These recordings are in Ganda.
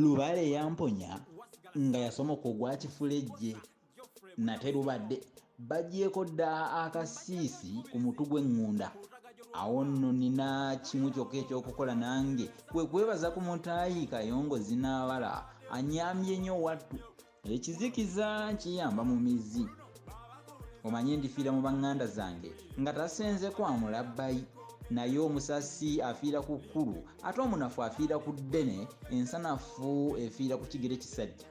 lubale yamponya nga yasomoka ogwa kifulejje nate lubadde bagyeko dda akasiisi ku mutu gw'eŋŋunda awo nno nina kimu kyokka ekyokukola nange kwe kwebaza ku mutaayi kayongo zinaabala anyambye nnyo wattu ekizikiza kiyamba mu mizi omanye ndifiira mu baŋŋanda zange nga tasenze kwa mulabbayi naye omusasi afiira ku kkulu ate omunafu afiira ku ddene ensanafu efiira ku kigere kisajja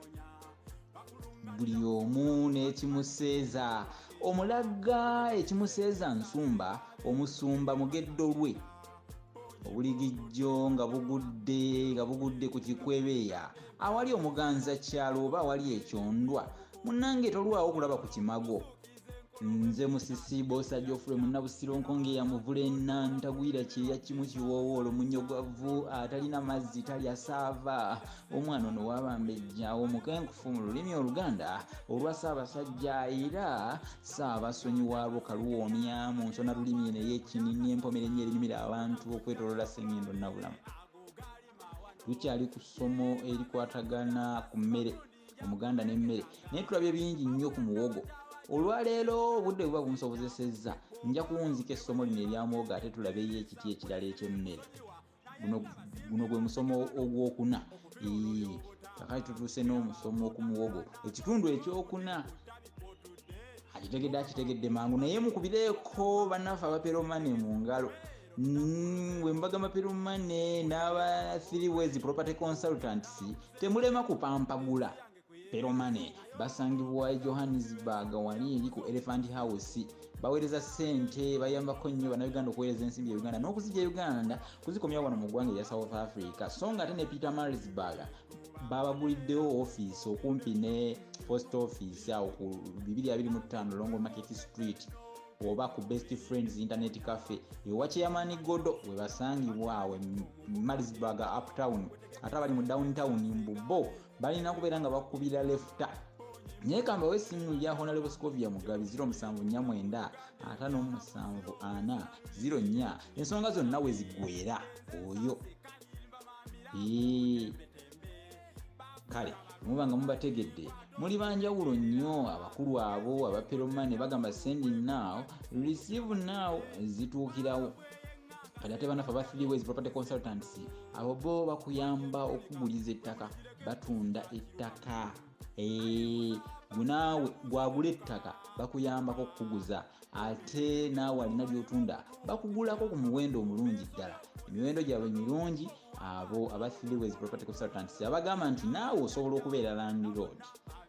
buli omu n'ekimuseeza omulagga ekimuseeza nsumba omusumba mugeddo lwe obuligijjo nga bugudde nga bugudde ku kikwebeeya awali omuganza kyalo oba awali ekyondwa munange tolwawo kulaba ku kimago nze musisi bosa jofre munabusiro nkonge yamuvula ena ntagwira kyeya kimu kiwoowo olomunyogwavu atalina mazzi talya saava omwana ono wabambejja omukenkufu mu lulimi oluganda olwa saabasajja era saaba sonyiwaalwo kaluwoomya mu nsona lulimi naye ekinini empomera ennyo erinyumira abantu okwetolola sengendo nabulamu tukyali ku ssomo erikwatagana ku mmere omuganda n'emmere naye tulabye bingi nnyo ku muwogo olwaleero obudde buba bunsobozesezza nja kuwunzika essomo lino eryamuwogo ate tulabeyo ekiti ekirala eky'emmere guno gwe musomo ogwokuna kakati tutuuse n'omusomo okumuwogo ekitundu ekyokuna akitegedde akitegedde mangu naye mukubireeko bannaffe abaperomane mu ngalo mm, wembaga maperomane n'aba three ways property consultants temulema kupampagula Peromane basangibwa e Johannesburg wali eri ku Elephant House baweereza ssente bayambako nnyo bannayuganda okuweereza ensimbi ya uganda n'okuzija e uganda kuzikomyawo wano mu ggwanga erya south africa so nga ate ne peter marisburg babaguliddewo ofiisi okumpi ne post office awo ku 225 longo market street oba ku best friends internet cafe ewa chairman godo webasangibwa awo e marisburg uptown ate abali mu downtown mbubo balina kubeera nga bakubira lefuta naye kamba wesimu ya honalebo scovia mugabi 0749 574 04 ensonga zonna wezigwera oyo kale muba nga mubategedde muli banjawulo nnyo abakulu abo abaperomane bagamba sending now receive now zituukirawo kati ate banafe aba three ways property consultants abo bo bakuyamba okuguliza ettaka batunda ettaka gunaawe gwagula ettaka bakuyambako okukuguza ate naawe alina lyotunda bakugulako ku muwendo omulungi ddala emiwendo gyabwe mirungi abo aba three ways property consultants abagamba nti naawe osobola okubeera landlord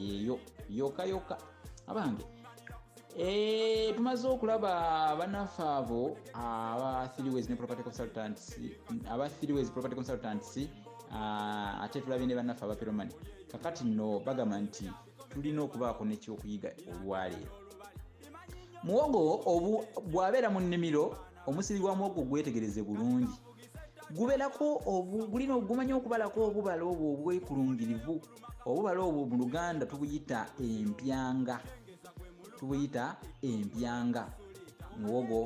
yeyo yoka yoka abange eh, tumaze okulaba banaffe abo aba threeways ne property consultants aba threeways property consultants ah, ate tulabye ne banaffe aba peromani kakati no bagamba nti tulina okubaako nekyokuyiga olwaleero muwogo bwabeera mu nnimiro omusiri gwa muwogo gwetegereze bulungi guberako gulina ogumanya okubalako obubala obwo obwekulungirivu obubala obwo mu luganda tubuyita empyanga tubuyita empyanga muwogo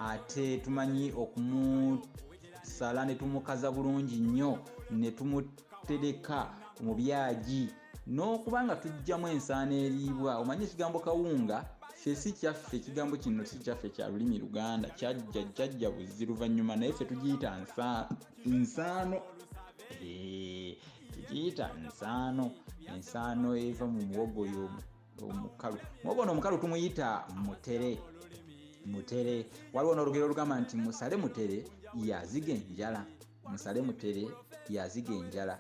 ate tumanyi okumusala ne tumukaza bulungi nnyo ne tumutereka mu byagi n'okuba nga tujjamu ensaano eriibwa omanyi ekigambo kawunga ffe si kyaffe ekigambo kino si kyaffe kya lulimi luganda kyajja jjajja buzzi luvannyuma naye ffe tugiyita nsaano tugiyita nsaano ensaano eva mu muwogo oyo omukalu muwogo ono omukalu tumuyita mutere mutere waliwo n'olugero olugamba nti musale mutere yaziga enjala musale mutere yaziga enjala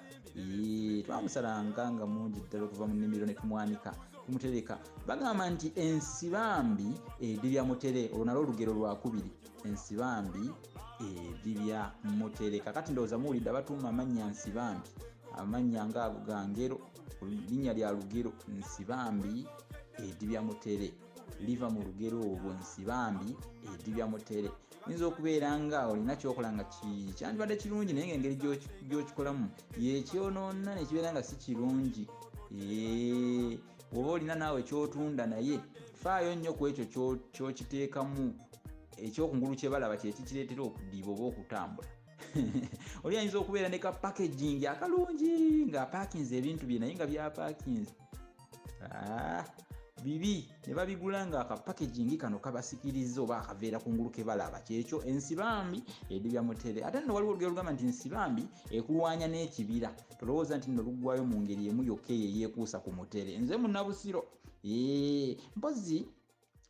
twamusalanga nga mungi ddala okuva mu nimiro netumwanika tumutereka bagamba nti ensibambi edibya mutere olwo nalwo olugero lwakubiri ensibambi edibya mutere kakati ndowooza muwulidde abatuuma amannya nsibambi amannya nga ago ga ngero linnya lya lugero nsibambi edibya mutere liva mu lugero olwo nsibambi edibya mutere oyinza okubeera nga olina kyokola nga kyandibadde kirungi naye nga engeri gyokikolamu yekyonoona nekibeera nga si kirungi oba olina naawe kyotunda naye faayo nnyo ku ekyo kyokiteekamu ekyokungulu kyebalaba kyekikireetera okudiiba oba okutambula oli ayinza okubeera ne ka packaging akalungi nga apakinze ebintu bye naye nga byapakinze ah, bibi ne babigula nga akapakegingi kano kabasikiriza oba akaveera ku ngulu kebalaba kyekyo ensibambi edibya mutere ate nno waliwo olugero lugamba nti nsibambi ekulwanya n'ekibira tolowooza nti nno luggwayo mu ngeri emu yokka eyo eyeekuusa ku mutere nze munabusiro ee mpozi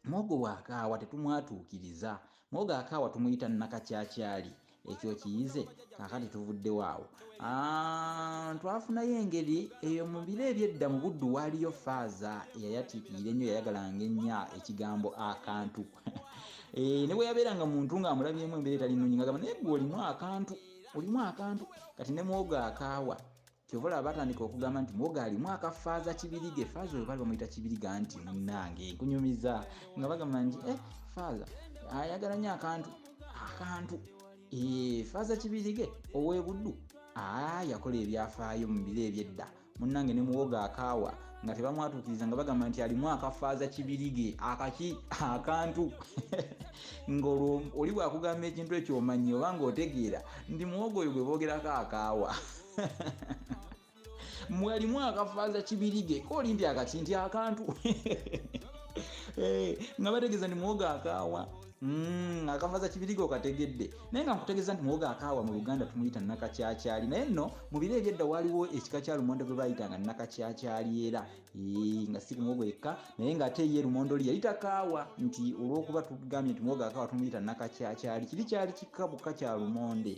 mwogo bwakaawa tetumwatuukiriza mwogo akaawa tumuyita nakakyakyali ekyo kiyize kakati tuvuddewo awo ah, twafunayo engeri eyo mu biro ebyedda mu buddu waaliyo faaza eyayatiikirira ennyo yayagalanga ennya ekigambo akantu eh, ne bwe yabeeranga muntu ng'amulabyemu embeera etali nnungi ngagamba naye gwe olimu akantu olimu akantu kati ne mwogo akaawa kyova olaba batandika okugamba nti mwoga alimu akafaaza kibirige faaza oyo bali bamuyita kibirige anti munange nkunyumiza nga bagamba nti e eh, faaza ayagala nyo akantu akantu eh, faaza kibirige owebuddu aa yakola ebyafaayo mu biro ebyedda munange ne muwoga akaawa nga tebamwatuukiriza nga bagamba nti alimu akafaaza kibirige akaki akantu ngaolwo oli bwakugamba ekintu ekyomanyi oba ngaotegeera ndi muwoga oyo gwe boogerako akaawa mwalimu akafaza kibirige koli nti akaki nti akantu eh, nga bategeza ni mwoga akawa Mm, akavaza kibiriga okategedde naye nga nkutegeeza nti muwoga akaawa mu luganda tumuyita nakakyakyali naye nno mu biro ebyedda waliwo ekika kya lumonde gwe bayitanga nakakyakyali era nga si kumuwogo yekka naye ngaate ye lumonde oli yayita kaawa nti olwokuba tugambye nti muwoga akaawa tumuyita nakakyakyali kiri kyali kikabuka kya lumonde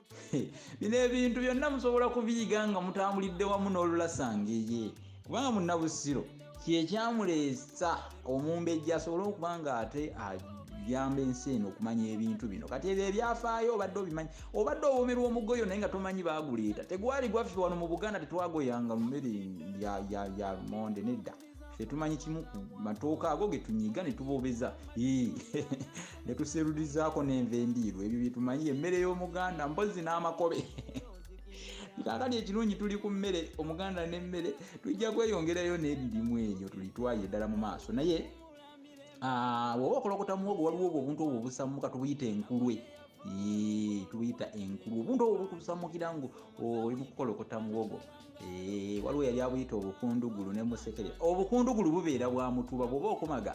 bino ebintu byonna musobola kubiyiga nga mutambulidde wamu n'olulasangeye kubanga munnabusiro kyekyamuleesa omumbejja asobole okuba nga ate ajamba ensi eno okumanya ebintu bino kati ebyo ebyafaayo obadde obimanyi obadde owomerwa omugoyo naye nga tomanyi baaguleeta tegwali gwaffe wano mu buganda tetwagoyanga mumere ya monde nedda tetumanyi kimu ku matooka ago getunyiga netubobeza netuserulizaako nenva endiirwa ebyo byetumanyi emmere y'omuganda mbozi n'amakobe kakati ekirungi tuli ku mmere omuganda n'emmere tujja kweyongerayo n'ebirimu ebyo tulitwaye eddala mu maaso naye ah, woba okolokota muwogo waliwo obwo obuntu obwo obusamuka tubuyita enkulwe tubuyita enkulwe obuntu obwo bukusamukira ngu oli mukukolokota muwogo Eh, waliwo yali abuyita obukundugulu ne musekere obukundugulu bubeera bwa mutuba bwoba okomaga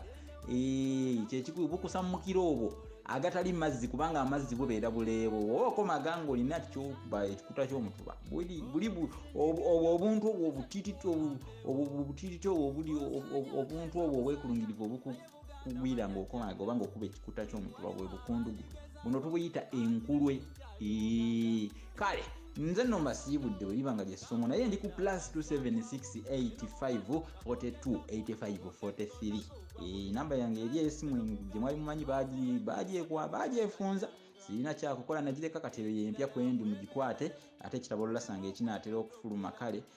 eh, kyekikulu bukusa mumukira obwo agatali mazzi kubanga amazzi bubeera buleebo oba okomaga nga olina kyokuba ekikuta kyomutuba buli obuntu obwo obutititi obwo obutititi obwo obuli obuntu obwo obwekulungirivu obuku kugwira ng'okomaga oba ng'okuba ekikuta ky'omutuba bwe bukundugu buno tubuyita enkulwe kale nze no mbasiibudde bwe liba nga lyessomo naye ndi ku plus 27685428543 enamba yange eri esimu gye mwali mumanyi bagyefunza sirina kyakukola nagireka kati eyo yempya kwendi mugikwate ate ekitabo olulasanga ekinaatera okufuluma kale